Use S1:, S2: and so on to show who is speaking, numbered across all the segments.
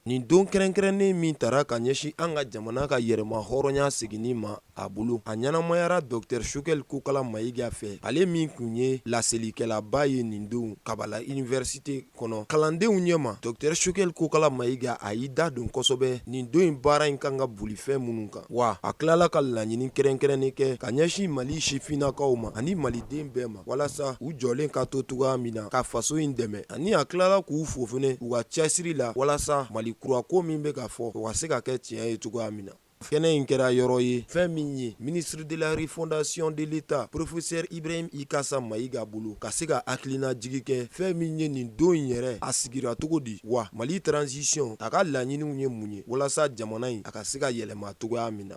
S1: Nin don kɛrɛnkɛrɛnnen min tara ka ɲɛsin an ka jamana ka yɛrɛma hɔrɔnya seginni ma a bolo, a ɲɛnamayara Docteur Choguel Kokala Mayiga fɛ, ale min tun ye laselikɛlaba ye nin don Kabala Université kɔnɔ kalandenw ɲɛma. Docteur Choguel Kokala Mayiga a y'i da don kosɛbɛ nin don in baara in kan ka boli fɛn minnu kan, wa a tilala ka laɲini kɛrɛnkɛrɛnnen kɛ ka ɲɛsin Mali sifinnakaw ma ani Maliden bɛɛ ma, walasa u jɔlen ka to cogoya min na ka faso in dɛmɛ. ani a tilala k'u fo fɛnɛ u ka cɛsiri la walasa mali kura ko min bɛ ka fɔ o ka se ka kɛ tiɲɛ ye cogoya min na kɛnɛ in kɛra yɔrɔ ye fɛn min ye ministre de la refondation de l'état professeur ibrahim ikassa mayiga bolo ka se ka hakilinajigin kɛ fɛn min ye nin don in yɛrɛ a sigira cogo di wa mali transition a ka laɲiniw ye mun ye walasa jamana in a ka se ka yɛlɛma cogoya min na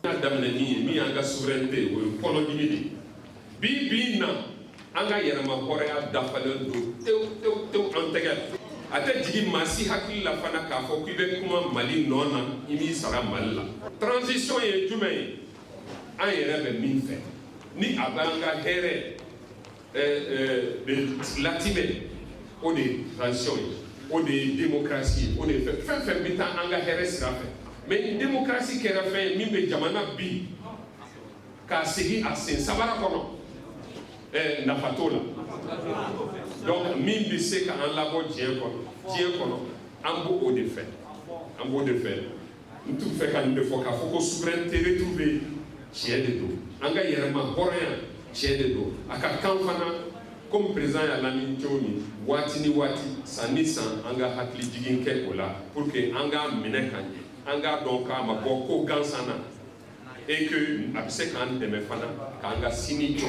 S2: bi bi na an ka yɛrɛma hɔrɔnya dafalen don tew tew tew an tɛgɛ la a tɛ jigin maa si hakili la fana k'a fɔ k'i bɛ kuma mali nɔ na i b'i sara mali la transition ye jumɛn ye an yɛrɛ bɛ min fɛ ni a b'an ka hɛrɛ latimɛ o de ye transition ye o de ye démocratie ye o de ye fɛn o fɛn bɛ taa an ka hɛrɛ sira fɛ mais ni démocratie kɛra fɛn ye min bɛ jamana bin k'a segin a sen sabara kɔnɔ ɛɛ nafa t'o la donc min bɛ se ka an labɔ diɲɛ kɔnɔ an b'o de fɛ an b'o de fɛ n tun fɛ ka nin de fɔ k'a fɔ ko souveraineté retrouvée tiɲɛ de don an ka yɛrɛma hɔrɔnya tiɲɛ de don a ka kan fana comme président y'a laɲini cogo min waati ni waati san ni san an ka hakili jigin kɛ o la pour que an k'a minɛ ka ɲɛ an k'a dɔn k'a ma bɔ ko gansan na et que a bɛ se k'an dɛmɛ fana k'an ka sini jɔ.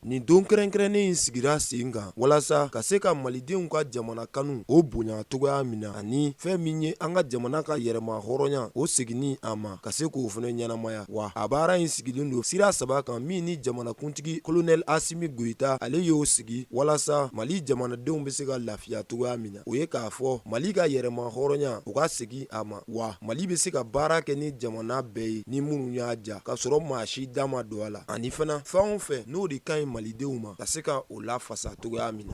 S2: Nin
S1: don kɛrɛnkɛrɛnnen in sigira sen kan walasa ka se ka malidenw ka jamana kanu o bonya cogoya min na ani fɛn min ye an ka jamana ka yɛrɛma hɔrɔnya o seginni a ma ka se k'o fana ɲɛnamaya wa a baara in sigilen don sira saba kan min ni jamanakuntigi kolonɛli asimi goyita ale y'o sigi walasa mali jamanadenw bɛ se ka lafiya cogoya min na o ye k'a fɔ mali ka yɛrɛma hɔrɔnya o ka segin a ma Wa mali bɛ se ka baara kɛ ni jamana bɛɛ ye ni minnu y'a diya ka sɔrɔ maa si da ma don a la ani fana fɛn o fɛn n'o de ka ɲi malidenw ma ka se ka o lafasa cogoya min na